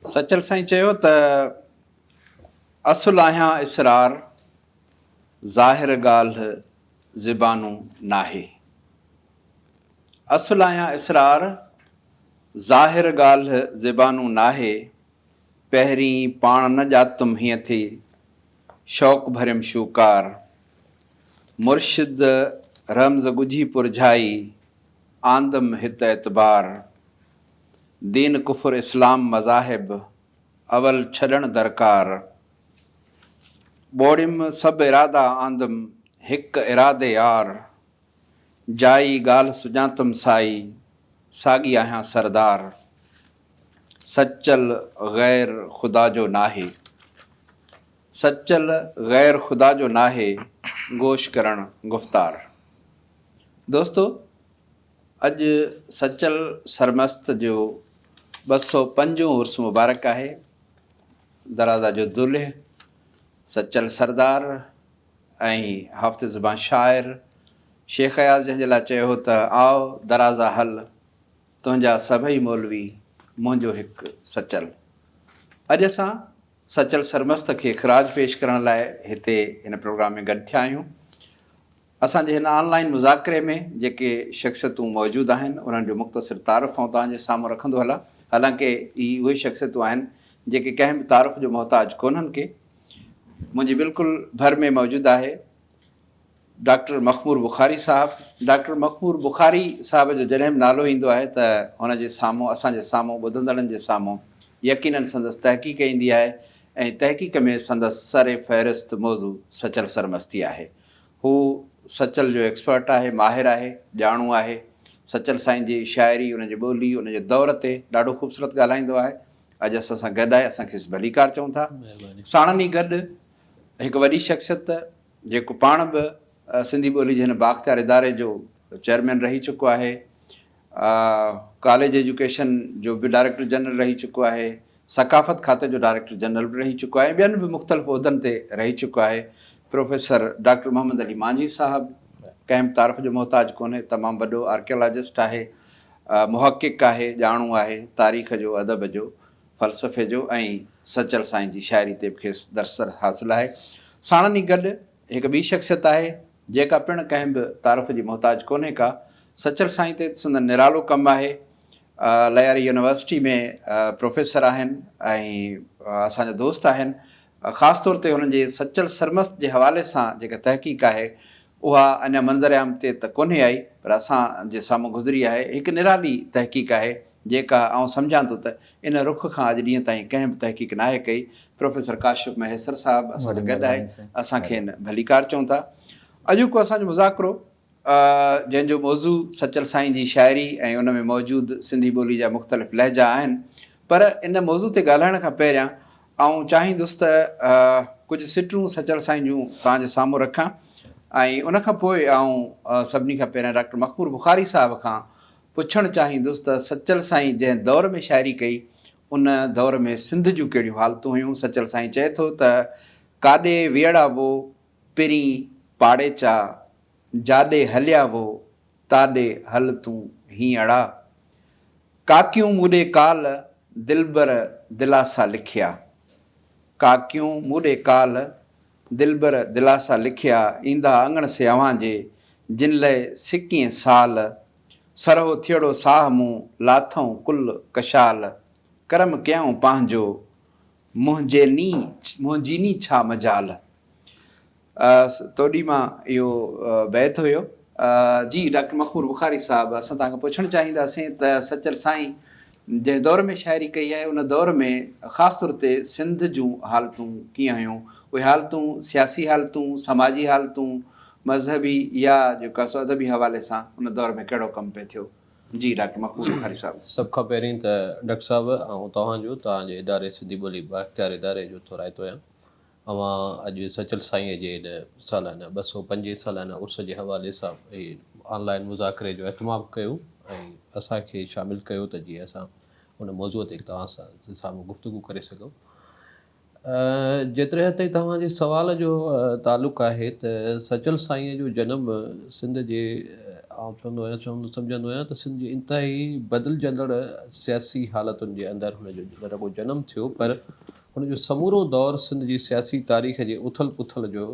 سچل سائين چيو ته اصل آهيان اسرار ظاهر ڳالهه زبانون ناهي اصل آهيان اسرار ظاهر ڳالهه زبانون ناهي پهرين پاڻ نه ڄاتم هيئن ٿي شوق ڀريم شوڪار مرشد رمز ڳجهي پرجهائي آندم هت اعتبار دين ڪفر اسلام مذاهب اول ڇڏڻ درڪار ٻوڙيم سڀ ارادا آندم هڪ ارادي يار جائي ڳالهه سڃاتم سائي ساڳي آهيان سردار سچل غير خدا جو ناهي سچل غير خدا جو ناهي گوش ڪرڻ گفتار دوستو اڄ سچل سرمست جو ٻه سؤ پنجون عرس مبارڪ آهي. درازا جو دلهه سچل سردار ۽ هافتي زبان شاعر شيخ اياز جنهن جي لاء چيو هو ته آء درازا هل تنهنجا سڀئي مولوي منهنجو هڪ سچل. اڄ اسان سچل سرمست کي خراج پيش ڪرڻ لاء هتي هن پروگرام ۾ گڏ ٿيا آهيون. اسان جي هن آن لائين مذاڪري ۾ جيڪي شخصيتون موجود آهن انهن جو مختصر تعارف آئون توهان جي سامهون رکندو هلان حالانڪه هي اهي شخصيتون آهن جيڪي ڪنهن به تعارف جو محتاج ڪونهن ڪي منهنجي بلڪل ڀر ۾ موجود آهي ڊاڪٽر مخمور بخاري صاحب ڊاڪٽر مخمور بخاري صاحب جو جڏهن به نالو ايندو آهي ته هن جي سامهون اسان جي سامهون ٻڌندڙن جي سامهون يقينن سندس تحقيق ايندي آهي ۽ تحقيق ۾ سندس سر فهرست موضوع سچل سرمستي آهي هو سچل جو ايڪسپرٽ آهي، ماهر آهي، ڄاڻو آهي. سچل سائين جي شاعري، ان جي ٻولي، ان جي دور تي ڏاڍو خوبصورت ڳالهائيندو آهي. اڄ اسان سان گڏ آهي، اسان کيس ڀليڪار چئون ٿا. ساڻن ئي گڏ هڪ وڏي شخصيت جيڪو پاڻ به سنڌي ٻولي جي هن بااختيار اداري جو چيئرمين رهي چڪو آهي. ڪاليج ايجوڪيشن جو به ڊائريڪٽر جنرل رهي چڪو آهي، ثقافت کاتي جو ڊائريڪٽر جنرل به رهي چڪو آهي ۽ ٻين به مختلف عهدن تي رهي چڪو آهي. پروفيسر ڊاڪٽر محمد علي مانجهي صاحب ڪنهن به تعارف جو محتاج ڪونهي، تمام وڏو آرڪيالاجسٽ آهي، محقق آهي، ڄاڻو آهي تاريخ جو، ادب جو، فلسفي جو ۽ سچل سائين جي شاعري تي به کيس درسرس حاصل آهي. ساڻن ئي گڏ هڪ ٻي شخصيت آهي جيڪا پڻ ڪنهن به تعارف جي محتاج ڪونهي ڪا. سچل سائين تي ته سندن نرالو ڪم آهي. لياري يونيورسٽي ۾ پروفيسر آهن ۽ اسان جا دوست آهن. خاص طور تي هنن جي سچل سرمست جي حوالي سان جيڪا تحقيق آهي اها اڃا منظر عام تي ته ڪونهي آئي پر اسان جي سامهون گذري آهي. هڪ نرالي تحقيق آهي. جيڪا آئون سمجهان ٿو ته ان رخ کان اڄ ڏينهن تائين ڪنهن به تحقيق ناهي ڪئي. پروفيسر ڪاشف مهيسر صاحب اسان سان گڏ آهي، اسان کين ڀليڪار چئون ٿا. اڄوڪو اسان جو مذاڪرو جنهن جو موضوع سچل سائين جي شاعري ۽ ان ۾ موجود سنڌي ٻولي جا مختلف لهجا آهن پر ان موضوع تي ڳالهائڻ کان پهريان آئون چاهيندس ته ڪجهه سٽون سچل سائين جون توهان جي سامهون رکان ۽ ان کان پوء آئون سڀني کان پهريان ڊاڪٽر مخمور بخاري صاحب کان پڇڻ چاهيندس ته سچل سائين جنهن دور ۾ شاعري ڪئي، ان دور ۾ سنڌ جون ڪهڙيون حالتون هيون؟ سچل سائين چئي ٿو ته، ڪاڏي ويئڙا وو، پرين پاڙيچا، جاڏي هليا وو، تاڏي هل تون هينئڙا. ڪاڪيون مون ڏي ڪال، دلبر دلاسا لکيا. ڪاڪيون مون ڏي ڪال، دلبر دلاسا لکيا ايندا اڱڻ سي اوهان جي، جن لئه سڪين سال، سرهو ٿيڙو ساهه مون لاٿئون ڪل ڪشال، ڪرم ڪيائون پنهنجو، منهنجي ني منهنجي ني ڇا مجال. توڏي مان اهو بيت هيو. جي ڊاڪٽر مخمور بخاري صاحب اسان توهان کان پڇڻ چاهينداسين ته سچل سائين جنهن دور ۾ شاعري ڪئي آهي ان دور ۾ خاص طور تي سنڌ جون حالتون ڪيئن هيون اهي حالتون سياسي حالتون سماجي حالتون مذهبي يا جيڪا سو ادبي حوالي سان ان دور ۾ ڪهڙو ڪم پئي ٿيو جي ڊاڪٽر مقبول بخاري صاحب. سڀ کان پهرين ته ڊاڪٽر صاحب آئون توهان جو توهان جي اداري سنڌي ٻولي بااختيار اداري جو ٿورائتو آهيان اوهان اڄ سچل سائينء جي ان سالانه ٻه سؤ پنجين سالانه عرس جي حوالي سان هي آن لائين مذاڪري جو اهتمام ڪيو ۽ اسان کي شامل ڪيو ته جيئن اسان ان موضوع تي توهان سان سامهون گفتگو ڪري سگهون. جيتري حد تائين توهان جي سوال جو تعلق آهي ته سچل سائينء جو جنم سنڌ جي آئون چوندو آهيان چوندو سمجهندو آهيان ته سنڌ جي انتهائي بدلجندڙ سياسي حالتن جي اندر هن جو نه رڳو جنم ٿيو پر هن جو سمورو دور سنڌ جي سياسي تاريخ جي اٿل پٿل جو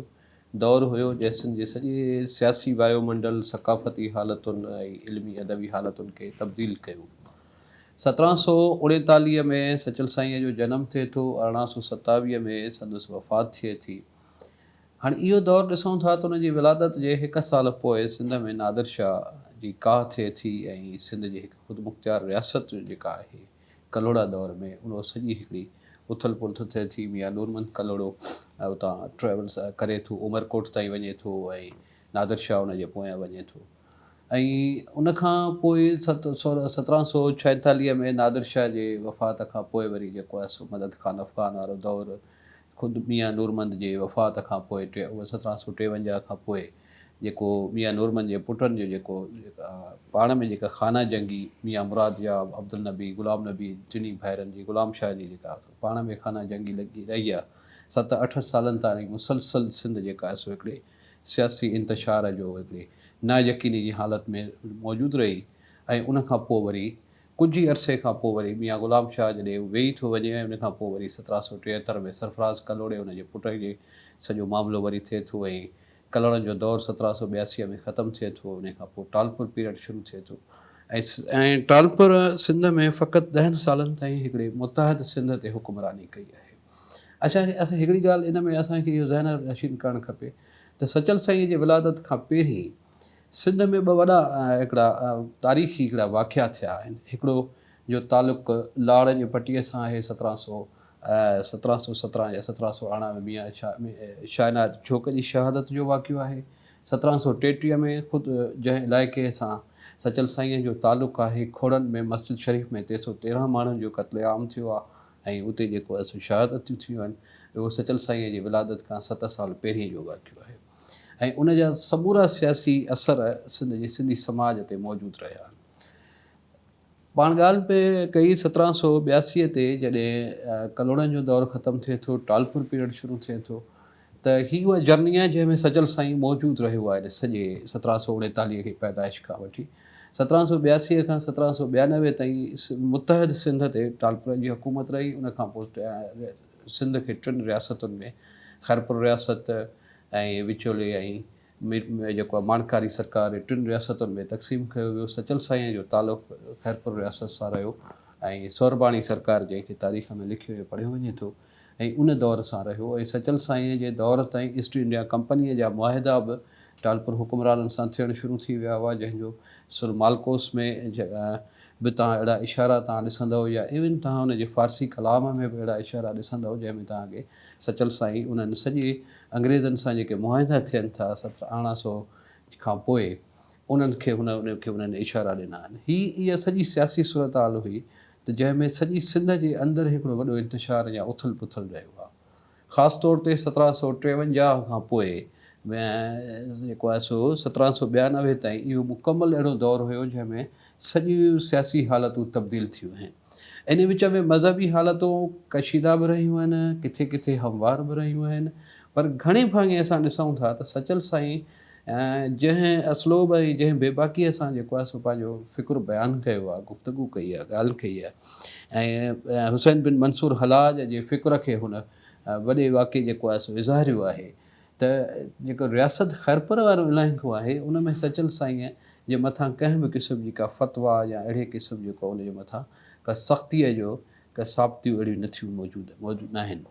دور هيو، جنهن سنڌ جي سڄي سياسي وايو منڊل، ثقافتي حالتن ۽ علمي ادبي حالتن کي تبديل ڪيو. سترهن سؤ اڻيتاليهه ۾ سچل سائينء جو جنم ٿئي ٿو، ارڙهن سؤ ستاويهه ۾ سندس وفات ٿئي ٿي. هاڻي اهو دور ڏسون ٿا ته ان جي ولادت جي هڪ سال پوء سنڌ ۾ نادر شاهه جي ڪاهه ٿئي ٿي ۽ سنڌ جي هڪ خودمختيار رياست جيڪا آهي، ڪلهوڙا دور ۾ ان سڄي هڪڙي اٿل پلٿ ٿئي ٿي ميان نورمحمد ڪلهوڙو اتان ٽريولس ڪري ٿو عمرڪوٽ تائين وڃي ٿو ۽ نادر شاهه ان جي پويان وڃي ٿو ۽ ان کان پوء سترهن سؤ ڇائيتاليهه ۾ نادر شاهه جي وفات کان پوء وري جيڪو آهي سو مدد خان افغان وارو دور خود ميان نورمند جي وفات کان پوء ٽي سترهن سؤ ٽيونجاهه کان پوء جيڪو ميان نورمند جي پٽن جو جيڪو پاڻ ۾ جيڪا خانه جنگي ميان مراد ياب، عبدالنبي، غلام نبي ٽنهي ڀائرن جي غلام شاهه جي جيڪا پاڻ ۾ خانه جنگي لڳي رهي آهي ست اٺ سالن تائين مسلسل سنڌ جيڪا آهي سو هڪڙي سياسي انتشار جو هڪڙي نا يقيني جي حالت ۾ موجود رهي ۽ ان کان پوء وري ڪجهه ئي عرصي کان پوء وري ميان غلام شاهه جڏهن ويهي ٿو وڃي ۽ ان کان پوء وري سترهن سؤ ٽيهتر ۾ سرفراز ڪلهوڙي ان جي پٽ جي سڄو معاملو وري ٿئي ٿو ۽ ڪلهوڙن جو دور سترهن سؤ ٻياسي ۾ ختم ٿئي ٿو ۽ ان کان پوء ٽالپر پيريڊ شروع ٿئي ٿو ۽ ٽالپر سنڌ ۾ فقط ڏهن سالن تائين هڪڙي متحد سنڌ تي حڪمراني ڪئي آهي اڇا هڪڙي ڳالهه ان ۾ اسان کي اهو ذهن نشين ڪرڻ کپي ته سچل سائينء جي ولادت کان پهرين سنڌ ۾ ٻه وڏا هڪڙا تاريخي هڪڙا واقعا ٿيا آهن هڪڙو جو تعلق لاڙ جي پٽي سان آهي سترهن سؤ سترهن سؤ سترهن يا سترهن سؤ ارڙهن ۾ ميان شاهه عنايت جوک جي شهادت جو واقعو آهي سترهن سؤ ٽيٽيهه ۾ خود جنهن علائقي سان سچل سائينء جو تعلق آهي کوڙن ۾ مسجد شريف ۾ تي سؤ تيرهن ماڻهن جو قتل عام ٿيو آهي ۽ اتي جيڪو اسين شهادتون ٿيون آهن اهو سچل سائينء جي ولادت کان ست سال پهرين جو واقعو آهي ۽ ان جا سمورا سياسي اثر سنڌ جي سنڌي سماج تي موجود رهيا آهن. پاڻ ڳالهه پئي ڪئي سترهن سؤ ٻياسي تي جڏهن ڪلهوڙن جو دور ختم ٿئي ٿو ٽالپور پيريڊ شروع ٿئي ٿو ته هي اها جرني آهي جنهن ۾ سجل سائين موجود رهيو آهي سڄي سترهن سؤ اڻيتاليهه کي پيدائش کان وٺي سترهن سؤ ٻياسيء کان سترهن سؤ ٻيانوي تائين متحد سنڌ تي ٽالپرن جي حڪومت رهي ان کان پوء سنڌ کي ٽن رياستن ۾ خيرپور رياست ۽ وچولي ۽ مير ۾ جيڪو ماڻڪاري سرڪار ۽ ٽن رياستن ۾ تقسيم ڪيو ويو. سچل سائينء جو تعلق خيرپور رياست سان رهيو ۽ سورباڻي سرڪار جنهن کي تاريخ ۾ لکيو ۽ پڙهيو وڃي ٿو ۽ ان دور سان رهيو ۽ سچل سائينء جي دور تائين ايسٽ انڊيا ڪمپنيء جا معاهدا به ٽالپر حڪمرانن سان ٿيڻ شروع ٿي ويا هئا جنهن جو سر مالڪوس ۾ به توهان اهڙا اشارا توهان ڏسندؤ يا ايون توهان ان جي فارسي ڪلام ۾ به اهڙا اشارا ڏسندؤ جنهن ۾ توهان کي سچل سائين انهن سڄي انگريزن سان جيڪي معاهدا ٿين ٿا ستر اڻا سو کان پوء انهن کي هن انهن کي انهن اشارا ڏنا آهن. هي اها سڄي سياسي صورتحال هئي ته جنهن ۾ سڄي سنڌ جي اندر هڪڙو وڏو انتشار يا اٿل پٿل رهيو آهي. خاص طور تي سترهن سؤ ٽيونجاهه کان پوء ۾ جيڪو آهي سو سترهن سؤ ٻيانوي تائين اهو مڪمل اهڙو دور هيو جنهن ۾ سڄيون سياسي حالتون تبديل ٿيون آهن. انهيء وچ ۾ مذهبي حالتون ڪشيده به رهيون آهن، ڪٿي ڪٿي هموار به رهيون آهن، پر گهڻي ڀاڱي اسان ڏسون ٿا ته سچل سائين جنهن اسلوب ۽ جنهن بيباڪيء سان جيڪو آهي سو پنهنجو فڪر بيان ڪيو آهي، گفتگو ڪئي آهي، ڳالهه ڪئي آهي ۽ حسين بن منصور حلاج جي فڪر کي هن وڏي واقعي جيڪو آهي سو اظهاريو آهي ته جيڪو رياست خيرپور وارو علائقو آهي ان ۾ سچل سائينء جي مٿان ڪنهن به قسم جي ڪا فتويٰ يا اهڙي قسم جو ڪو ان جي مٿان ڪا سختيء جو ڪا ثابتيون اهڙيون نه ٿيون موجود موجود ناهن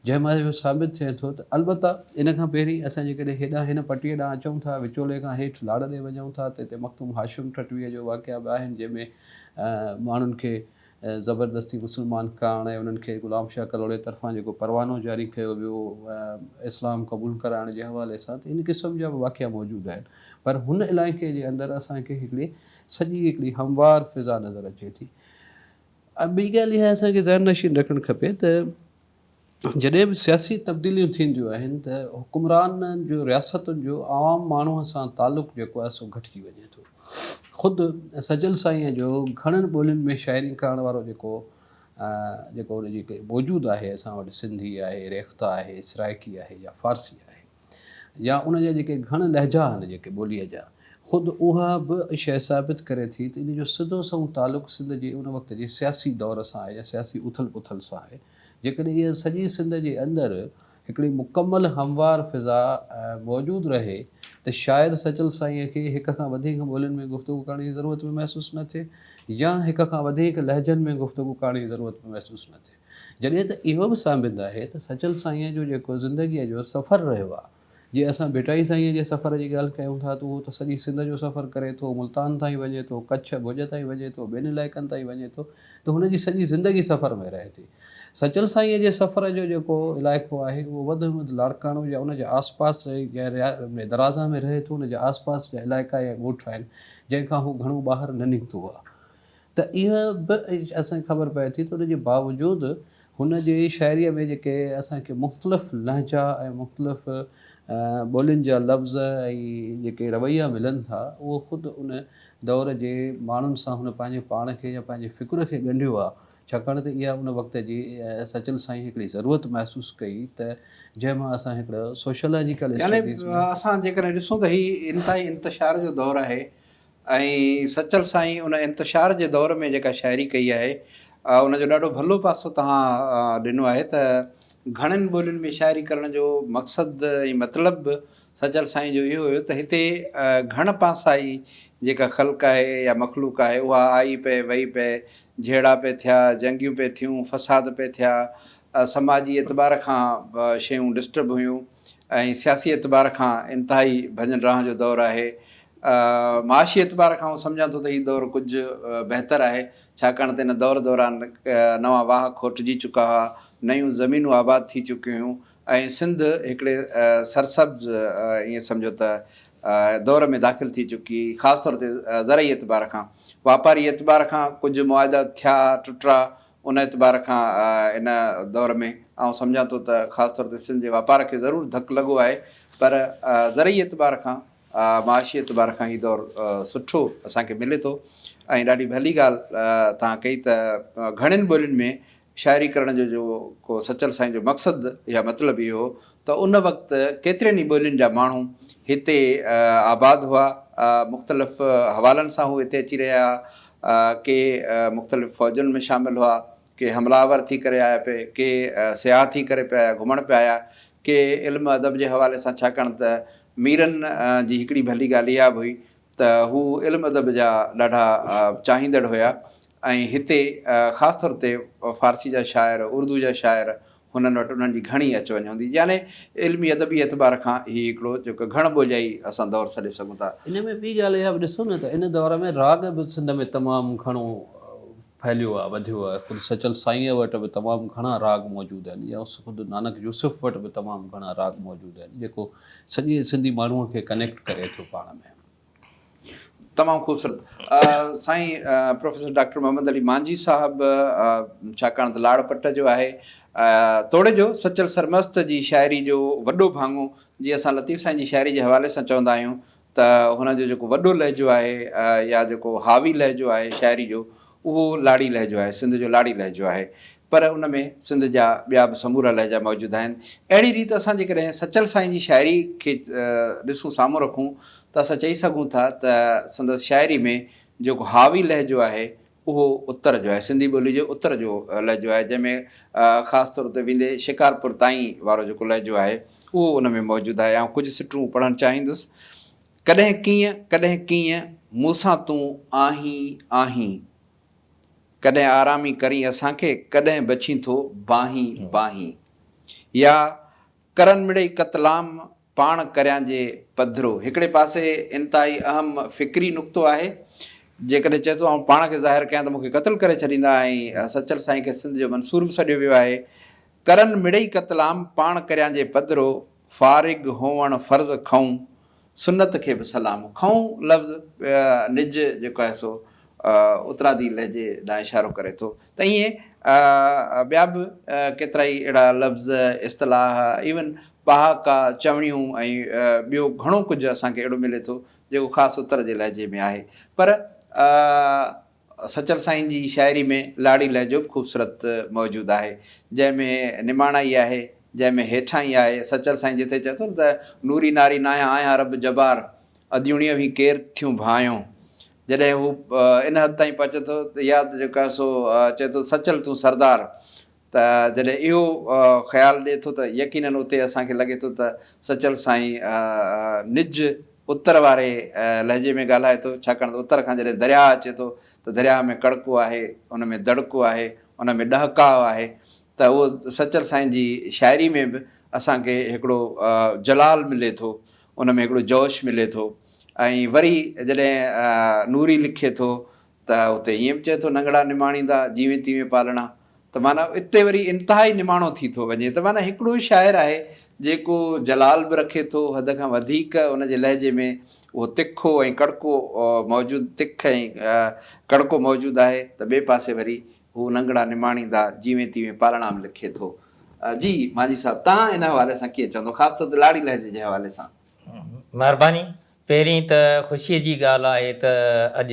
جنهن مان اهو ثابت ٿئي ٿو ته البته ان کان پهرين اسان جيڪڏهن هيڏانهن هن پٽيء ڏانهن اچون ٿا وچولي کان هيٺ لاڙ ڏي وڃون ٿا ته هتي مخدوم هاشم ٺٽويء جو واقعا به آهن جنهن ۾ ماڻهن کي ۽ زبردستي مسلمان ڪرڻ ۽ انهن کي غلام شاهه ڪلهوڙي طرفان جيڪو پروانو جاري ڪيو ويو اسلام قبول ڪرائڻ جي حوالي سان ته ان قسم جا به واقعا موجود آهن پر هن علائقي جي اندر اسان کي هڪڙي سڄي هڪڙي هموار فضا نظر اچي ٿي ۽ ٻي ڳالهه اها اسان کي ذهن نشين رکڻ کپي ته جڏهن به سياسي تبديليون ٿينديون آهن ته حڪمرانن جو رياستن جو عوام ماڻهو سان تعلق جيڪو آهي سو گهٽجي وڃي ٿو. خود سجل سائينء جو گهڻن ٻولين ۾ شاعري ڪرڻ وارو جيڪو جيڪو ان جي موجود آهي اسان وٽ سنڌي آهي، ريختا آهي، سرائڪي آهي يا فارسي آهي. يا ان جا جيڪي گهڻ لهجا آهن جيڪي ٻوليء جا، خود اها به شيء ثابت ڪري ٿي ته ان جو سڌو سنئون تعلق سنڌ جي ان وقت جي سياسي دور سان آهي يا سياسي اٿل پٿل سان آهي. جيڪڏهن اها سڄي سنڌ جي اندر هڪڙي مڪمل هموار فضا موجود رهي ته شايد سچل سائينء کي هڪ کان وڌيڪ ٻولين ۾ گفتگو ڪرڻ جي ضرورت به محسوس نه ٿئي يا هڪ کان وڌيڪ لهجن ۾ گفتگو ڪرڻ جي ضرورت به محسوس نه ٿئي. جڏهن ته اهو به سانبند آهي ته سچل سائينء جو جيڪو زندگيء جو سفر رهيو آهي، جي اسان ڀٽائي سائينء جي سفر جي ڳالهه ڪيون ٿا ته اهو ته سڄي سنڌ جو سفر ڪري ٿو، ملتان تائين وڃي ٿو، ڪڇ، ڀڄ تائين وڃي ٿو، ٻين علائقن تائين وڃي ٿو ته هن جي سڄي زندگي سفر ۾ رهي ٿي. سچل سائينء جي سفر جو جيڪو علائقو آهي، اهو وڌ ۾ وڌ لاڙڪاڻو يا ان جي آس پاس جي درازا ۾ رهي ٿو، ان جي آس پاس جا علائقا يا ڳوٺ آهن، جنهن کان هو گهڻو ٻاهر نه نڪتو آهي. ته اها به اسان کي خبر پئي ٿي ته ان جي باوجود هن جي شاعريء ۾ جيڪي اسان کي مختلف لهجا ۽ مختلف ٻولين جا لفظ ۽ جيڪي رويا ملن ٿا اهو خود ان دور جي ماڻهن سان هن پنهنجي پاڻ کي يا پنهنجي فڪر کي ڳنڍيو آهي ڇاڪاڻ ته اها ان وقت جي سچل سائين هڪڙي ضرورت محسوس ڪئي ته جنهن مان اسان هڪڙو سوشيالاجيڪل اسٽڊيز ۾ يعني اسان جيڪڏهن ڏسون ته هي انتهائي انتشار جو دور آهي ۽ سچل سائين ان انتشار جي دور ۾ جيڪا شاعري ڪئي آهي ان جو ڏاڍو ڀلو پاسو توهان ڏنو آهي ته گهڻين ٻولين ۾ شاعري ڪرڻ جو مقصد ۽ مطلب به سچل سائين جو اهو هيو ته هتي گهڻ پاسائي جيڪا خلق آهي يا مخلوق آهي اها آئي پئي وئي پئي جهيڙا پئي ٿيا جنگيون پئي ٿيون فساد پئي ٿيا سماجي اعتبار کان شيون ڊسٽرب هيون ۽ سياسي اعتبار کان انتهائي ڀڃ ڊاهه جو دور آهي معاشي اعتبار کان آئون سمجهان ٿو ته هي دور ڪجهه بهتر آهي، ڇاڪاڻ ته ان دور دوران نوان واهه کوٽجي چڪا هئا، نيون زمينون آباد ٿي چڪيون هيون ۽ سنڌ هڪڙي سرسبز ائين سمجهو ته دور ۾ داخل ٿي چڪي، خاص طور تي زرعي اعتبار کان. واپاري اعتبار کان ڪجهه معاهدا ٿيا ٽٽرا، ان اعتبار کان ان دور ۾ آئون سمجهان ٿو ته خاص طور تي سنڌ جي واپار کي ضرور ڌڪ لڳو آهي، پر زرعي اعتبار کان معاشي اعتبار کان هي دور سٺو اسان کي ملي ٿو ۽ ڏاڍي ڀلي ڳالهه توهان ڪئي ته گهڻين ٻولين ۾ شاعري ڪرڻ جو جو ڪو سچل سائين جو مقصد يا مطلب اهو هو ته ان وقت ڪيترين ئي ٻولين جا ماڻهو هتي آباد هئا مختلف حوالن سان هو هتي اچي رهيا ڪي مختلف فوجن ۾ شامل هئا ڪي حمله آور ٿي ڪري آيا پئي، ڪي سياح ٿي ڪري پيا آيا، گهمڻ پيا آيا، ڪي علم ادب جي حوالي سان ڇاڪاڻ ته ميرن جي هڪڙي ڀلي ڳالهه اها به هئي ته هو علم ادب جا ڏاڍا چاهيندڙ هيا ۽ هتي خاص طور تي فارسي جا شاعر، اردو جا شاعر هنن وٽ انهن جي گهڻي اچ وڃ هوندي يعني علمي ادبي اعتبار کان هي هڪڙو جيڪو گهڻ ٻوليائي اسان دور سڏي سگهون ٿا. ان ۾ ٻي ڳالهه اها به ڏسو نه ته ان دور ۾ راڳ به سنڌ ۾ تمام گهڻو ڦهليو آهي وڌيو آهي خود سچل سائينء وٽ به تمام گهڻا راڳ موجود آهن يا خود نانڪ يوسف وٽ به تمام گهڻا راڳ موجود آهن جيڪو سڄي سنڌي ماڻهوء کي ڪنيڪٽ ڪري ٿو پاڻ ۾. تمام خوبصورت سائين پروفيسر ڊاڪٽر محمد علي مانجي صاحب ڇاڪاڻ ته لاڙ پٽ جو آهي توڙي جو سچل سرمست جي شاعري جو وڏو ڀاڱو جي اسان لطيف سائين جي شاعري جي حوالي سان چوندا آهيون ته هن جو جيڪو وڏو لهجو آهي يا جيڪو حاوي لهجو آهي شاعري جو اهو لاڙي لهجو آهي، سنڌ جو لاڙي لهجو آهي، پر ان ۾ سنڌ جا ٻيا به سمورا لهجا موجود آهن. اهڙي ريت اسان جيڪڏهن سچل سائين جي شاعري کي ڏسون، سامهون رکون ته اسان چئي سگهون ٿا ته سندس شاعري ۾ جيڪو حاوي لهجو آهي، اهو اتر جو آهي، سنڌي ٻولي جي اتر جو لهجو آهي، جنهن ۾ خاص طور تي ويندي شڪارپور تائين وارو جيڪو لهجو آهي، اهو ان ۾ موجود آهي. آئون ڪجهه سٽون پڙهڻ چاهيندس. ڪڏهن ڪيئن ڪڏهن ڪيئن مون سان تون آهين آهين ڪڏهن آرامي ڪرين اسان کي ڪڏهن بڇين ٿو باهين باهين يا ڪرن مڙئي قتلام پاڻ ڪريان جي پڌرو هڪڙي پاسي انتهائي اهم فڪري نقطو آهي جيڪڏهن چئي ٿو آئون پاڻ کي ظاهر ڪيان ته مون کي قتل ڪري ڇڏيندا ۽ سچل سائين کي سنڌ جو منصور به سڏيو ويو آهي ڪرن مڙئي قتلام پاڻ ڪريان جي پڌرو فارغ هئڻ فرض کئون سنت کي به سلام. کئون لفظ نج جيڪو آهي سو اترادي لهجي ڏانهن اشارو ڪري ٿو ته ائين ٻيا به ڪيترائي اهڙا لفظ، اصطلاح، ايون پهاڪا، چوڻيون ۽ ٻيو گهڻو ڪجهه اسان کي اهڙو ملي ٿو جيڪو خاص اتر جي لهجي ۾ آهي پر سچل سائين جي شاعري ۾ لاڙي لهجو به خوبصورت موجود آهي، جنهن ۾ نماڻائي آهي، جنهن ۾ هيٺائي آهي. سچل سائين جتي چئي ٿو نه ته، نوري ناري ناهيان آهيان رب جبار، اديوڻيء وهين ڪير ٿيون ڀانئيون. جڏهن هو ان حد تائين پهچي ٿو ته يا ته جيڪو آهي سو چئي ٿو سچل تون سردار، ته جڏهن اهو خيال ڏئي ٿو ته يقينن اتي اسان کي لڳي ٿو ته سچل سائين نج اتر واري لهجي ۾ ڳالهائي ٿو ڇاڪاڻ ته اتر کان جڏهن درياهه اچي ٿو ته درياهه ۾ ڪڙڪو آهي ان ۾ دڙڪو آهي ان ۾ ڏهڪاء آهي ته اهو سچل سائين جي شاعري ۾ به اسان کي هڪڙو جلال ملي ٿو ان ۾ هڪڙو جوش ملي ٿو ۽ وري جڏهن نوري لکي ٿو ته اتي ائين به چئي ٿو ننگڙا نماڻيندا جيوين تيوين پالڻا ته معنيٰ اتي وري انتهائي نماڻو ٿي ٿو وڃي ته معنيٰ هڪڙو شاعر آهي جيڪو جلال به رکي ٿو حد کان وڌيڪ ان جي لهجي ۾ اهو تکو ۽ ڪڙڪو موجود تک ۽ ڪڙڪو موجود آهي ته ٻئي پاسي وري هو ننگڙا نماڻيندا جيوين تيوين پالڻا به لکي ٿو جي مانجهي صاحب تهان ان حوالي سان ڪيئن چوندو خاص طور تي لاڙي لهجي جي حوالي سان. مهرباني پهرين ته خوشيء جي ڳالهه آهي ته اڄ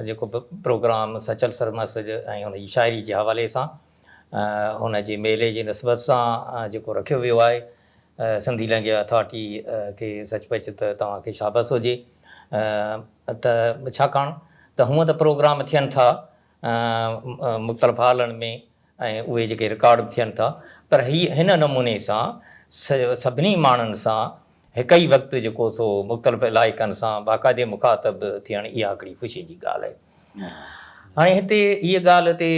جيڪو به پروگرام سچل سرمست جو ۽ هن جي شاعري جي حوالي سان هن جي ميلي جي نسبت سان جيڪو رکيو ويو آهي سنڌي لئنگيج اٿارٽي کي سچ پچ ته توهان کي شابس هجي ته ڇاڪاڻ ته هونء ته پروگرام ٿين ٿا مختلف هالن ۾ ۽ اهي جيڪي رڪارڊ به ٿين ٿا پر هي هن نموني سان سڀني ماڻهن سان هڪ ئي وقت جيڪو سو مختلف علائقن سان باقاعدي مخاطب ٿيڻ اها هڪڙي خوشي جي ڳالهه آهي. هاڻي هتي هيء ڳالهه تي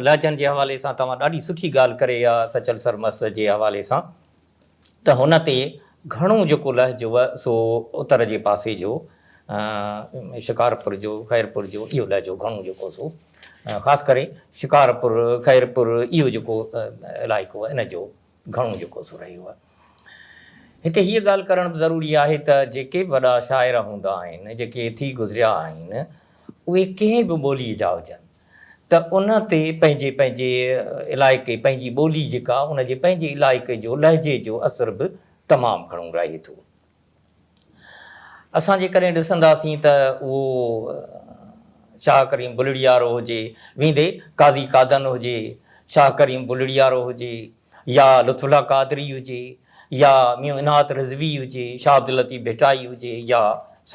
لهجن جي حوالي سان توهان ڏاڍي سٺي ڳالهه ڪري آ سچل سرمست جي حوالي سان. ته هن تي گهڻو جيڪو لهجو هو سو اتر جي پاسي جو شڪارپور جو خيرپور جو اهو لهجو گهڻو جيڪو سو خاص ڪري شڪارپور خيرپور اهو جيڪو علائقو ان جو گهڻو جيڪو سو رهيو هو. هتي هيء ڳالهه ڪرڻ به ضروري آهي ته جيڪي به وڏا شاعر هوندا آهن جيڪي ٿي گذريا آهن اهي ڪنهن به ٻولي جا هجن ته ان تي پنهنجي پنهنجي علائقي پنهنجي ٻولي جيڪا ان جي پنهنجي علائقي جو لهجي جو اثر به تمام گهڻو رهي ٿو. اسان جيڪڏهن ڏسنداسين ته اهو شاهه ڪريم بلڙيارو هجي ويندي قاضي قادن هجي شاهه ڪريم بلڙيارو هجي يا لطف الله قادري هجي يا ميون عنات رضوي هجي شاهه عبداللطيف ڀٽائي هجي يا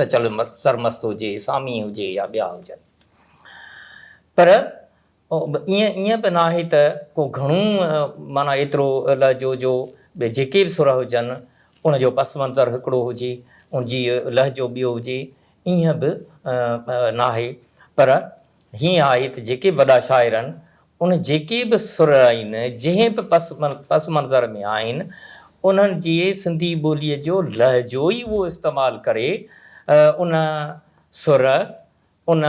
سچل سرمست هجي سامي هجي يا ٻيا هجن. پر ائين ائين به ناهي ته ڪو گهڻو معنيٰ ايترو لهجو جو ٻيا جيڪي به سر هجن ان جو پس منظر هڪڙو هجي ان جي لهجو ٻيو هجي ائين به ناهي پر هيئن آهي ته جيڪي به وڏا شاعر آهن ان جيڪي به سر آهن جنهن به پس منظر ۾ آهن انهن جي سنڌي ٻولي جو لهجو ئي اهو استعمال ڪري ان سر ان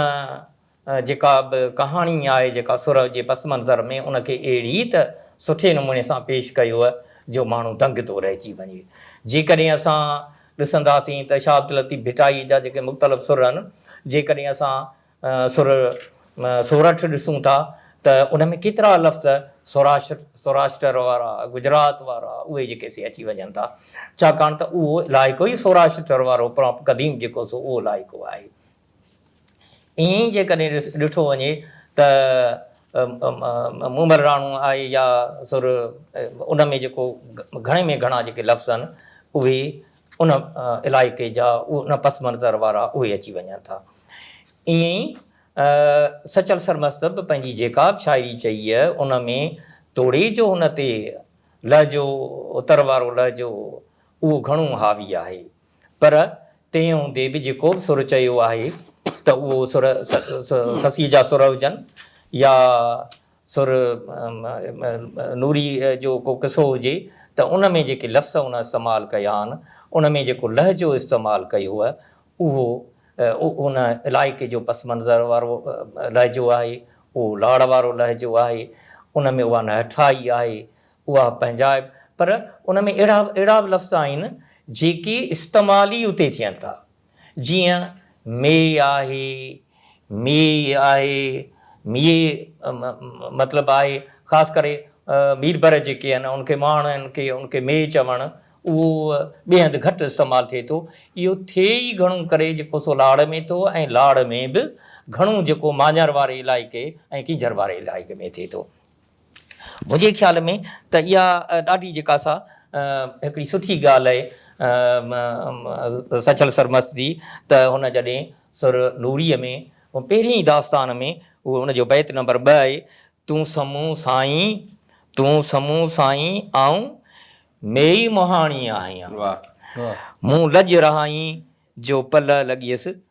جيڪا به ڪهاڻي آهي جيڪا سرهه جي پس منظر ۾ ان کي اهڙي ته سٺي نموني سان پيش ڪيوء جو ماڻهو دنگ ٿو رهجي وڃي. جيڪڏهن اسان ڏسنداسين ته شاهه عبداللطيف ڀٽائي جا جيڪي مختلف سرهن جيڪڏهن اسان سرهه سورٺ ڏسون ٿا ته ان ۾ ڪيترا لفظ سوراشٽر، Zoroaster، وارا، گجرات وارا، اهي جيڪي سي اچي وڃن ٿا، ڇاڪاڻ ته اهو علائقو ئي سوراشٽر وارو پراپ قديم جيڪو سو اهو علائقو آهي. ائين ئي جيڪڏهن ڏٺو وڃي ته مومل راڻو آهي يا سر ان ۾ جيڪو گهڻي ۾ گهڻا جيڪي لفظ آهن اهي ان علائقي جا ان پس منظر وارا اهي اچي وڃن ٿا. ائين ئي سچل سرمست به پنهنجي جيڪا به شاعري چئي ان ۾ توڙي جو هن تي لهجو اتر وارو لهجو اهو گهڻو حاوي آهي پر تنهن هوندي به جيڪو به سر چيو آهي ته اهو سر سسيء جا سر هجن يا سر نوري جو ڪو قصو هجي ته ان ۾ جيڪي لفظ ان استعمال ڪيا آهن، ان ۾ جيڪو لهجو استعمال ڪيو آهي، اهو ان علائقي جو پس منظر وارو لهجو آهي، اهو لاڙ وارو لهجو آهي، ان ۾ اها نهٺائي آهي، اها پنهنجائپ، پر ان ۾ اهڙا اهڙا به لفظ آهن جيڪي استعمال ئي اتي ٿين ٿا. جيئن ميء آهي، ميء آهي، ميء مطلب آهي خاص ڪري ميربر جيڪي آهن ان کي مهاڻن کي ان کي ميء چوڻ اهو ٻئي هنڌ گهٽ استعمال ٿئي ٿو. اهو ٿئي ئي گهڻو ڪري جيڪو سو لاڙ ۾ ٿو ۽ لاڙ ۾ به گهڻو جيڪو مانيار واري علائقي ۽ ڪينجهر واري علائقي ۾ ٿئي ٿو. منهنجي خيال ۾ ته اها ڏاڍي جيڪا سا هڪڙي سٺي ڳالهه آهي سچل سرمست جي ته هن جڏهن سر نوريء ۾ پهرين ئي داستان ۾ اهو ان جو بيت نمبر ٻه آهي، تون سمون سائين، تون سمون سائين آئون ميئي مهاڻي آهيان، مون لڄ رهائين جو پلئه لڳيس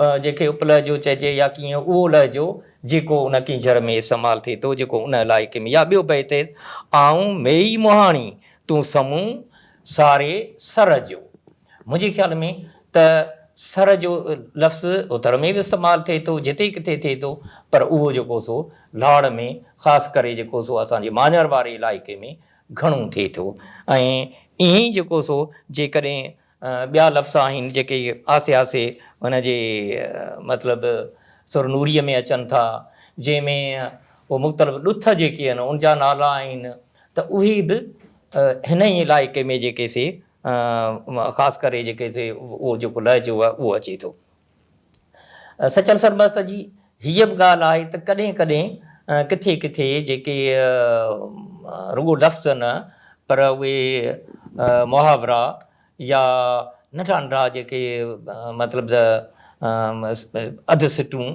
جنهن کي اپلهجو چئجي يا ڪيئن اهو لهجو جيڪو ان ڪينجهر ۾ استعمال ٿئي ٿو جيڪو ان علائقي ۾ يا ٻيو بيت ايس آئون ميئي مهاڻي تون سمون ساري سر جو منهنجي خيال ۾ ته سر جو لفظ اتر ۾ به استعمال ٿئي ٿو جتي ڪٿي ٿئي ٿو پر اهو جيڪو سو لاڙ ۾ خاص ڪري جيڪو سو اسان جي ماڃر واري علائقي ۾ گهڻو ٿئي ٿو ۽ ائين جيڪو سو جيڪڏهن ٻيا لفظ آهن جيڪي آسي آسي هن جي مطلب سرنوريء ۾ اچن ٿا، جنهن ۾ اهي مختلف ڏٿ جيڪي آهن ان جا نالا آهن ته اهي به هن ئي علائقي ۾ جيڪي سي خاص ڪري جيڪي سي اهو جيڪو لهجو آهي اهو اچي ٿو. سچل سربست جي هيء به ڳالهه آهي ته ڪڏهن ڪڏهن ڪٿي ڪٿي جيڪي رڳو لفظ نه پر اهي محاورا يا ننڍا ننڍا جيڪي مطلب ته اڌ سٽون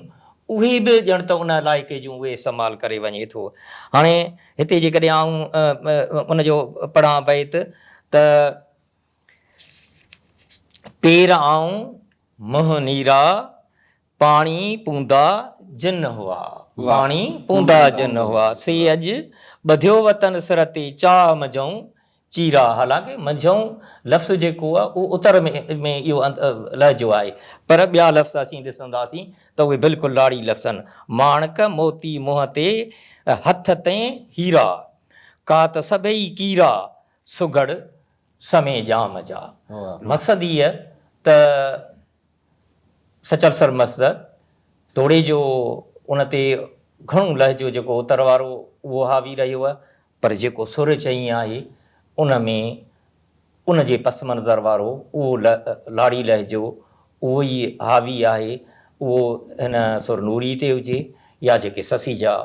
اهي به ڄڻ ته ان علائقي جون اهي استعمال ڪري وڃي ٿو. هاڻي هتي جيڪڏهن آئون ان جو پڙهان بيت ته. پير آئون منهن نيرا، پاڻي پوندا جن هئا. پاڻي پوندا جن هئا. سي اڄ ٻڌيو وطن سر تي، چاهه منجهئون چيرا. حالانڪه منجهئون لفظ جيڪو آهي اهو اتر ۾ اهو لهجو آهي پر ٻيا لفظ اسين ڏسنداسين ته اهي بلڪل لاڙي لفظ آهن. ماڻڪ موتي منهن تي، هٿ تئين هيرا. ڪات سڀئي ڪيرا، سگهڙ سمي ڄام جا. مقصد هيء ته سچل سر مسد توڙي جو ان تي گهڻو لهجو جيڪو اتر وارو اهو حاوي رهيو پر جيڪو سر چئي آهي ان ۾ ان جي پس منظر وارو اهو لاڙي لهجو اهو ئي حاوي آهي اهو هن سر نوري تي هجي يا جيڪي سسي جا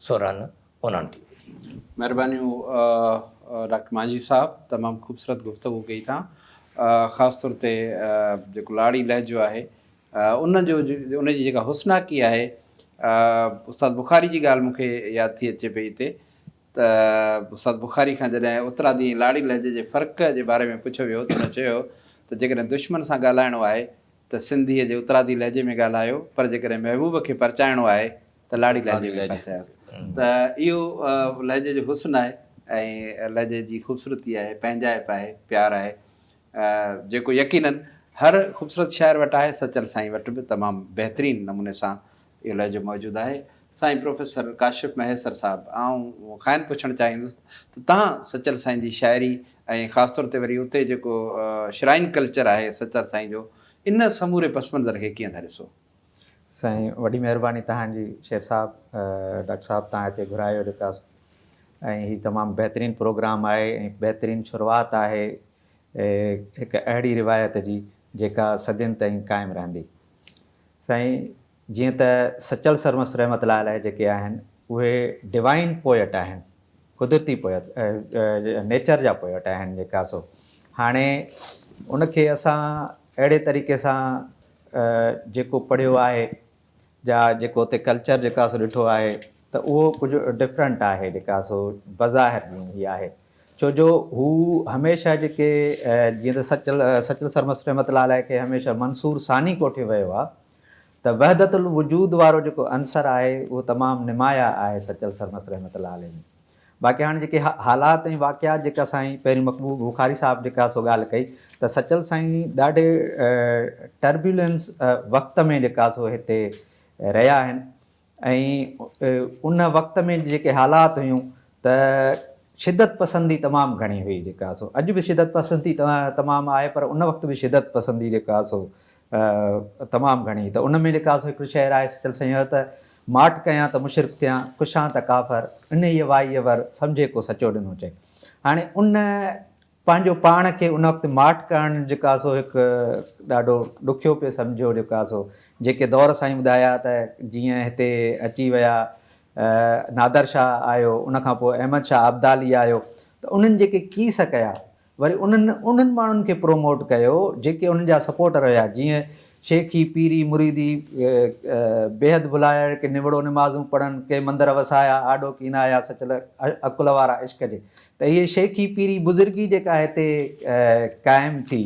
سر آهن انهن تي وجهي. مهربانيون ڊاڪٽر مانجهي صاحب تمام خوبصورت گفتگو ڪئي تان خاص طور تي جيڪو لاڙي لهجو آهي ان جو ان جي جيڪا حسناڪي آهي استاد بخاري جي ڳالهه مون کي ياد ٿي اچي پئي هتي ته استاد بخاري کان جڏهن اترادي ۽ لاڙي لهجي جي فرق جي باري ۾ پڇيو ويو ته هن چيو ته جيڪڏهن دشمن سان ڳالهائڻو آهي ته سنڌيء جي اترادي لهجي ۾ ڳالهايو پر جيڪڏهن محبوب کي پرچائڻو آهي ته لاڙي لهجي ۾ ڳالهاياسين ته اهو لهجي جو حسن آهي ۽ لهجي جي خوبصورتي آهي، پنهنجائپ آهي، پيار آهي جيڪو يقيناً هر خوبصورت شاعر وٽ آهي، سچل سائين وٽ به تمام بهترين نموني سان اهو لهجو موجود آهي. سائين پروفيسر ڪاشف مهيسر صاحب آئون کانئن پڇڻ چاهيندس ته تهان سچل سائين جي شاعري ۽ خاص طور تي وري اتي جيڪو شرائن ڪلچر آهي سچل سائين جو ان سموري پس منظر کي ڪيئن ٿا ڏسو؟ سائين وڏي مهرباني توهان جي شير صاحب ڊاڪٽر صاحب توهان هتي گهرايو جيڪا ۽ هي تمام بهترين پروگرام آهي ۽ بهترين شروعات آهي هڪ اهڙي روايت جي جيڪا صدين تائين قائم رهندي سائين جيئن ته سچل سرمست رحمت الله عليه جيڪي آهن اهي ڊوائين پوئٽ آهن قدرتي پوئت نيچر جا پوئٽ آهن جيڪا سو هاڻي ان کي اسان اهڙي طريقي سان جيڪو پڙهيو آهي جا جيڪو اتي ڪلچر جيڪو آهي سو ڏٺو آهي ته اهو ڪجهه ڊفرنٽ آهي جيڪو آهي سو بظاهر ڏينهن هي آهي ڇو جو هو هميشه جيڪي جيئن ته سچل سچل سرمست رحمت الله عليه کي هميشه منصور ثاني ڪوٺيو ويو آهي ته وحدت الوجود وارو جيڪو عنصر آهي اهو تمام نمايا آهي سچل سرمست رحمت الله عليه ۾ باقي هاڻي جيڪي حالات ۽ واقعات جيڪا سائين پهرين مقبول بخاري صاحب جيڪا سو ڳالهه ڪئي ته سچل سائين ڏاڍي ٽربيولنس وقت ۾ جيڪا سو هتي رهيا آهن ۽ ان وقت ۾ جيڪي حالات هيون ته شدت پسندي تمام گهڻي هئي جيڪا سو اڄ به شدت پسندي تمام آهي پر ان وقت به شدت پسندي جيڪا سو تمام گهڻي ته ان ۾ لکا سو هڪڙو شعر آهي سچل سڃوء ته، ماٺ ڪيان ته مشرڪ ٿيان، ڪشان ته ڪافر، انهيء وائيء ور، سمجهي ڪو سچو ڏنو چئي. هاڻي ان پنهنجو پاڻ کي ان وقت ماٺ ڪرڻ جيڪا سو هڪ ڏاڍو ڏکيو پئي سمجهيو جيڪا سو جيڪي دور سائين ٻڌايا ته جيئن هتي اچي ويا نادر شاهه آيو ان کان پوء احمد شاهه ابدالي آيو ته انهن جيڪي ڪيس ڪيا وري انهن انهن ماڻهن کي پروموٽ ڪيو جيڪي انهن جا سپورٽر هيا جيئن شيخي پيري مريدي بيحد ڀلائڻ ڪي نوڙو نمازون پڙهن ڪي مندر وسايا آڏو ڪين آيا سچل عقل وارا عشق جي ته هي شيخي پيري بزرگي جيڪا هتي قائم ٿي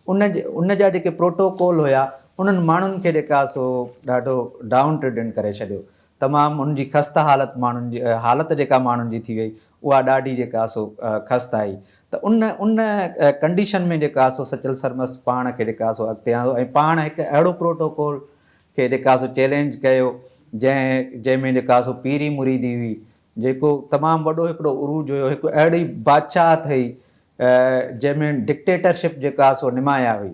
ان ان جا جيڪي پروٽوڪول هيا انهن ماڻهن کي جيڪا سو ڏاڍو ڊائون ٽرڊن ڪري ڇڏيو تمام ان جي خسته حالت ماڻهن جي حالت جيڪا ماڻهن جي ٿي وئي اها ڏاڍي جيڪا سو خست آهي ته ان ان ڪنڊيشن ۾ جيڪا سو سچل سرمست پاڻ کي جيڪا سو اڳتي آندو ۽ پاڻ هڪ اهڙو پروٽوڪول کي جيڪا سو چئلينج ڪيو جنهن جنهن ۾ جيڪا سو پيري مريدي هئي جيڪو تمام وڏو هڪڙو عروج هيو هڪ اهڙي بادشاهت هئي جنهن ۾ ڊڪٽيٽرشپ جيڪا سو نمايان هئي.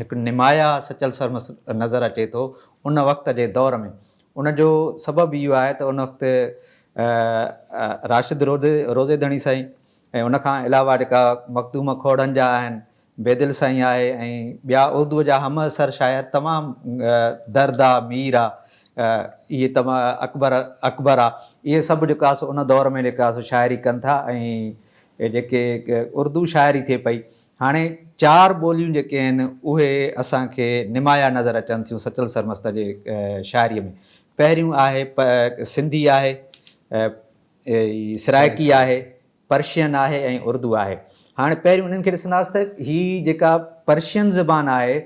هڪ نمايا سچل سرمس نظر اچي ٿو ان وقت جي دور ۾. ان جو سبب اهو آهي ته ان وقت راشد روضي ڌڻي سائين ۽ ان کان علاوه جيڪا مخدوم کوڙن جا آهن، بيدل سائين آهي ۽ ٻيا اردوء جا همعصر شاعر تمام درد آ، مير آ، اهي تمام اڪبر اڪبر آ، اهي سڀ جيڪا سو ان دور ۾ جيڪا سو شاعري ڪن ٿا ۽ هي جيڪي اردو شاعري ٿئي پئي، هاڻي چار ٻوليون جيڪي آهن اهي اسان کي نمايا نظر اچن ٿيون سچل سرمست جي شاعريء ۾. پهريون آهي سنڌي آهي، سرائڪي آهي، پرشين آهي ۽ اردو آهي. هاڻي پهريون انهن کي ڏسنداس ته هي جيڪا پرشين زبان آهي،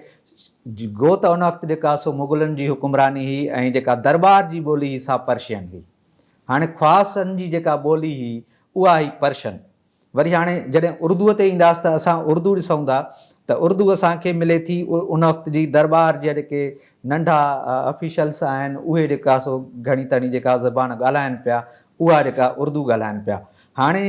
گو ته ان وقت جيڪا سو مغلن جي حڪمراني هئي ۽ جيڪا درٻار جي ٻولي هئي سا پرشين هئي. هاڻي خواصن جي جيڪا ٻولي هئي اها هئي پرشن. وري هاڻي جڏهن اردوء تي اينداس ته اسان اردو ڏسون ٿا ته اردو اسان کي ملي ٿي ان وقت جي درٻار جا جيڪي ننڍا آفيشلس آهن اهي جيڪا سو گهڻي تڻي جيڪا زبان ڳالهائن پيا اها جيڪا اردو ڳالهائن پيا. هاڻي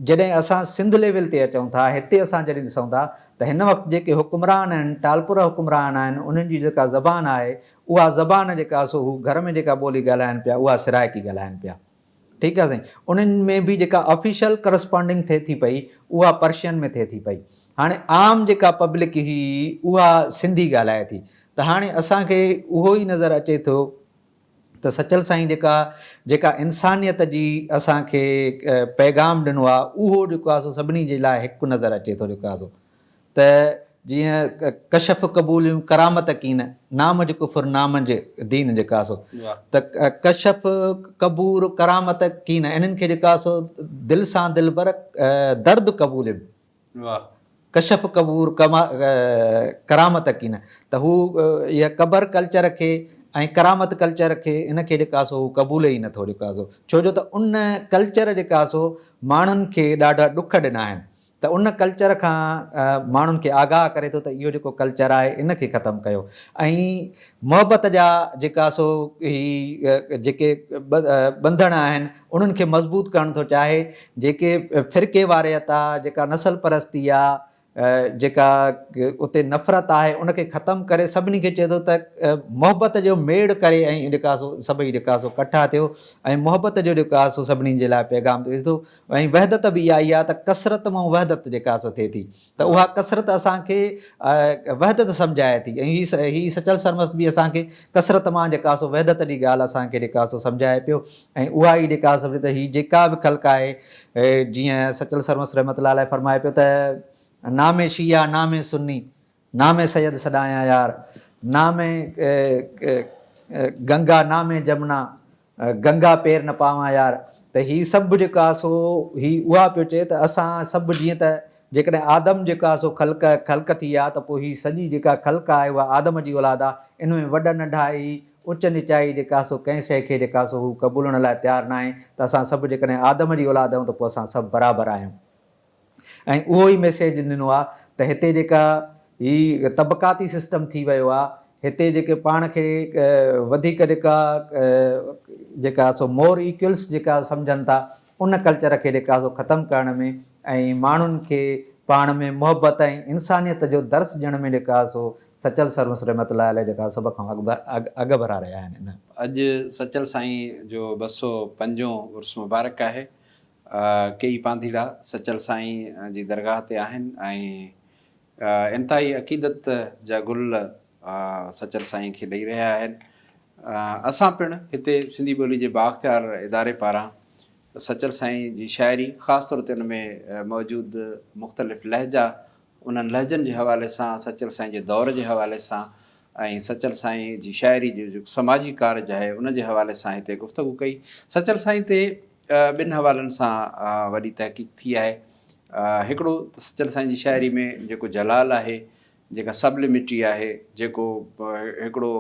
جڏهن اسان سنڌ ليول تي اچون ٿا هتي اسان جڏهن ڏسون ٿا ته هن وقت جيڪي حڪمران آهن ٽالپرا حڪمران آهن انهن جي جيڪا زبان آهي اها زبان جيڪا سو هو گهر ۾ جيڪا ٻولي ڳالهائن پيا اها سرائڪي ڳالهائن پيا ٺيڪ آهي سائين انهن ۾ به جيڪا آفيشل ڪرسپانڊنگ ٿئي ٿي پئي اها پرشين ۾ ٿئي ٿي پئي هاڻي عام جيڪا پبلڪ هي اها سنڌي ڳالهائي ٿي ته هاڻي اسان کي اهو ئي نظر اچي ٿو ته سچل سائين جيڪا جيڪا انسانيت جي اسان کي پيغام ڏنو آهي اهو جيڪو آهي سو سڀني جي لاء هڪ نظر اچي ٿو جيڪو آهي سو ته جيئن ڪشف قبوليون ڪرامت ڪين نام جي ڪفر نام جي دين جي ڪاسو ته ڪشف قبول ڪرامت ڪين انهن کي جي ڪاسو دل سان دلبر درد قبولين ڪشف قبول ڪرامت ڪين ته هو اها قبر ڪلچر کي ۽ ڪرامت ڪلچر کي ان کي جي ڪاسو هو قبول ئي نٿو جي ڪاسو ڇو جو ته ان ڪلچر جي ڪاسو ماڻهن کي ڏاڍا ڏک ڏنا آهن ته ان ڪلچر کان ماڻهن کي آگاهه ڪري ٿو ته اهو جيڪو ڪلچر آهي ان کي ختم ڪيو ۽ محبت جا جيڪا سو هي جيڪي ٻنڌڻ آهن انهن کي مضبوط ڪرڻ ٿو چاهي جيڪي فرقي واريت آهي جيڪا نسل پرستي آهي جيڪا اتي نفرت آهي ان کي ختم ڪري سڀني کي چئي ٿو ته محبت جو ميڙ ڪري ۽ جيڪا سو سڀئي جيڪا سو ڪٺا ٿيو ۽ محبت جو جيڪا سو سڀني جي لاء پيغام ڏئي ٿو ۽ وحدت به اها ئي آهي ته ڪثرت مان وحدت جيڪا حاصل ٿئي ٿي ته اها ڪثرت اسان کي وحدت سمجهائي ٿي ۽ هي سچل سرمست به اسان کي ڪثرت مان جيڪا سو وحدت جي ڳالهه اسان کي جيڪا سو سمجهائي پيو ۽ اها ئي جيڪا سمجهه ته هي جيڪا به خلق آهي جيئن سچل سرمست رحمت الله عليه فرمائي پيو ته نام شيعه نام سني نامي سيد سڏايان يار، نامي گنگا، نامي جمنا، گنگا پير نه پاوان يار. ته هي سڀ جيڪو آهي سو هي اها پيو چئي ته اسان سڀ جيئن ته جيڪڏهن آدم جيڪو آهي سو خلق خلق ٿي آهي ته پوء هي سڄي جيڪا خلق آهي اها آدم جي اولاد آهي. ان ۾ وڏ ننڍائي، اچ نچائي جيڪا آهي سو ڪنهن شيء کي جيڪا آهي سو هو قبولڻ لاء تيار ناهي ته اسان سڀ جيڪڏهن آدم جي اولاد آهيون ته پوء اسان سڀ برابر آهيون. ۽ اهو ئي ميسيج ڏنو آ ته هتي جيڪا هي طبقاتي سسٽم ٿي ويو آ هتي جيڪي پاڻ کي وڌيڪ جيڪا جيڪا سو مور ايڪولس جيڪا سمجهن ٿا ان ڪلچر کي جيڪا سو ختم ڪرڻ ۾ ۽ ماڻهن کي پاڻ ۾ محبت ۽ انسانيت جو درس ڏيڻ ۾ جيڪا سو سچل سر مس رحمت الله عليه جيڪا سڀ کان اڳڀرا رهيا آهن ان اڄ سچل سائين جو ٻه سؤ پنجون عرس مبارڪ آهي ڪيئي پانڌيئڙا سچل سائين جي درگاهه تي آهن ۽ انتهائي عقيدت جا گل سچل سائين کي ڏئي رهيا آهن. اسان پڻ هتي سنڌي ٻولي جي بااختيار اداري پاران سچل سائين جي شاعري خاص طور تي ان ۾ موجود مختلف لهجا انهن لهجن جي حوالي سان سچل سائين جي دور جي حوالي سان ۽ سچل سائين جي شاعري جو جيڪو سماجي ڪارج آهي ان جي حوالي سان هتي گفتگو ڪئي. سچل سائين تي ٻن حوالن سان وڏي تحقيق ٿي آهي. هڪڙو ته سچل سائين جي شاعري ۾ جيڪو جلال آهي، جيڪا سبلمٽي آهي، جيڪو هڪڙو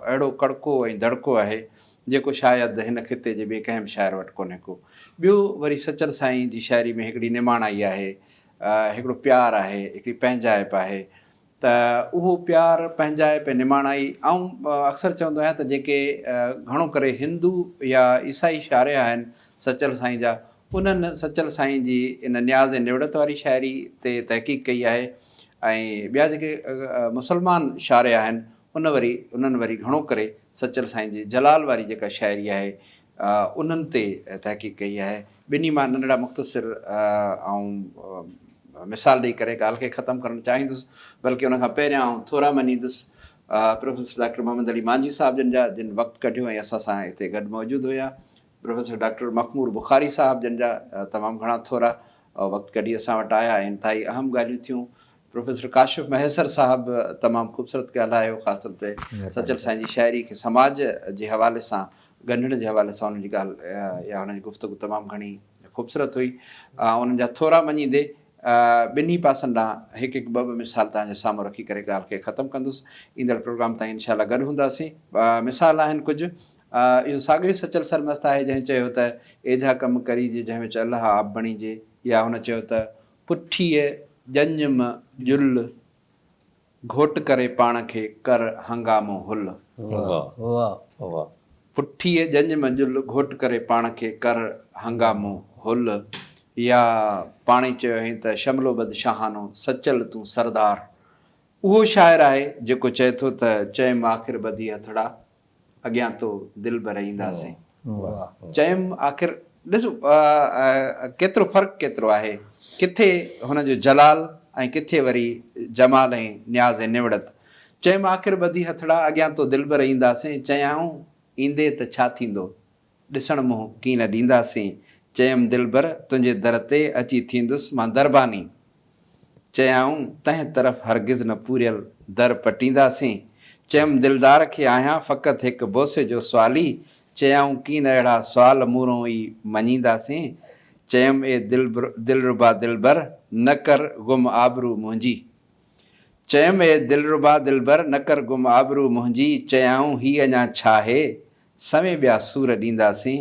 اهڙو ڪڙڪو ۽ دڙڪو آهي، جيڪو شايد هن خطي جي ٻئي ڪنهن به شاعر وٽ ڪونهي ڪو. ٻيو وري سچل سائين جي شاعري ۾ هڪڙي نماڻائي آهي، هڪڙو پيار آهي، هڪڙي پنهنجائپ آهي، ته اهو پيار پنهنجائپ ۽ نماڻائي آئون اڪثر چوندو آهيان ته جيڪي گهڻو ڪري هندو يا عيسائي شارح آهن سچل سائين جا انهن سچل سائين جي ان نياز ۽ نوڙت واري شاعري تي تحقيق ڪئي آهي ۽ ٻيا جيڪي مسلمان شارح آهن ان وري انهن وري گهڻو ڪري سچل سائين جي جلال واري جيڪا شاعري آهي انهن تي تحقيق ڪئي آهي. ٻنهي مان ننڍڙا مختصر آئون مثال ڏئي ڪري ڳالهه کي ختم ڪرڻ چاهيندس، بلڪه ان کان پهريان آئون ٿورا مڃيندس پروفيسر ڊاڪٽر محمد علي مانجهي صاحب جن جا، جن وقت ڪڍيو ۽ اسان سان هتي گڏ موجود هيا. پروفيسر ڊاڪٽر مخمور بخاري صاحب جن جا تمام گهڻا ٿورا وقت ڪڍي اسان وٽ آيا ۽ انتهائي اهم ڳالهيون ٿيون. پروفيسر ڪاشف مهيسر صاحب تمام خوبصورت ڳالهايو خاص طور تي سچل سائين جي شاعري کي سماج جي حوالي سان ڳنڍڻ جي حوالي سان انهن جي ڳالهه يا انهن جي گفتگو تمام گهڻي خوبصورت هئي انهن جا ٿورا مڃيندي ٻنهي پاسن ڏانهن هڪ هڪ ٻه ٻه مثال توهان جي سامهون رکي ڪري ڳالهه کي ختم ڪندس ايندڙ پروگرام تائين انشاء الله گڏ هونداسين مثال آهن ڪجهه اهو ساڳيو ئي سچل سرمست آهي جنهن چيو ته ايجها ڪم ڪري جي جنهن وچ الله آب بڻيجي يا هن چيو ته پٺيء ڄڃ م ڄل، گهوٽ ڪري پاڻ کي، ڪر هنگامو هل. واهه واهه. پٺيء ڄڃ م ڄل، گهوٽ ڪري پاڻ کي، ڪر هنگامو هل. يا پاڻهي چيو هئين ته شملو بد شاهانو، سچل تون سردار. اهو شاعر آهي جيڪو چئي ٿو ته چئم آخر ٻڌي هٿڙا، اڳيان تو دلبر اينداسين. چيم آخر ڏس ڪيترو فرق ڪيترو آهي ڪٿي هن جو جلال ۽ ڪٿي وري جمال ۽ نياز ۽ نوڙت. چيم آخر ٻڌي هٿڙا اڳيان تو دلبر اينداسين. چيائون ايندي ته ڇا ٿيندو. ڏسڻ منهن ڪين نه ڏينداسين. چيم دلبر تنهنجي در تي اچي ٿيندس مان درباني. چيائون تنهن طرف هرگز نه پوريل در پٽينداسين. چيم دلدار کي آهيان فقط هڪ بوسي جو سوالي. چيائون ڪين اهڙا سوال مورون ئي مڃينداسين. چيم اي دلربا دلبر نه ڪر گم آبرو منهنجي. چيم اي دلربا دلبر نه ڪر گم آبرو منهنجي. چيائون هي اڃا ڇا هي سوين ٻيا سور ڏينداسين.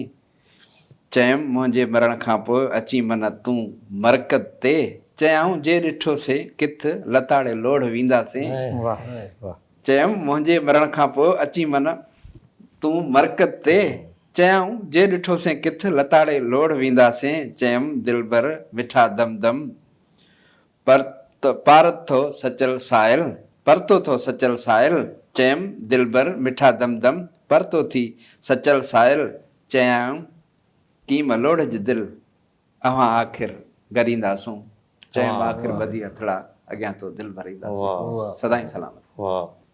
چيم، منهنجي مرڻ کان پوء اچين من تون مرقد تي. چيائون، جي ڏٺو سين ڪٿ، لتاڙي لوڙهه وينداسين. چيم، منهنجي مرڻ کان پوء اچين من تون مرقد تي. چيائون، جي ڏٺو سين ڪٿ، لتاڙي لوڙهه وينداسين. چيم، دلبر مٺا دم دم. پر تو پارت ٿو سچل سائل پر تو ٿو سچل سائل چيم دلبر مٺا دم دم پر تو ٿي سچل سائل چيائون ڪيم الوڙج دل اوهان آخر گرينداسون چيم آخر ٻڌي هٿڙا اڳيان تو دل ڀرينداسون سدائين سلامت.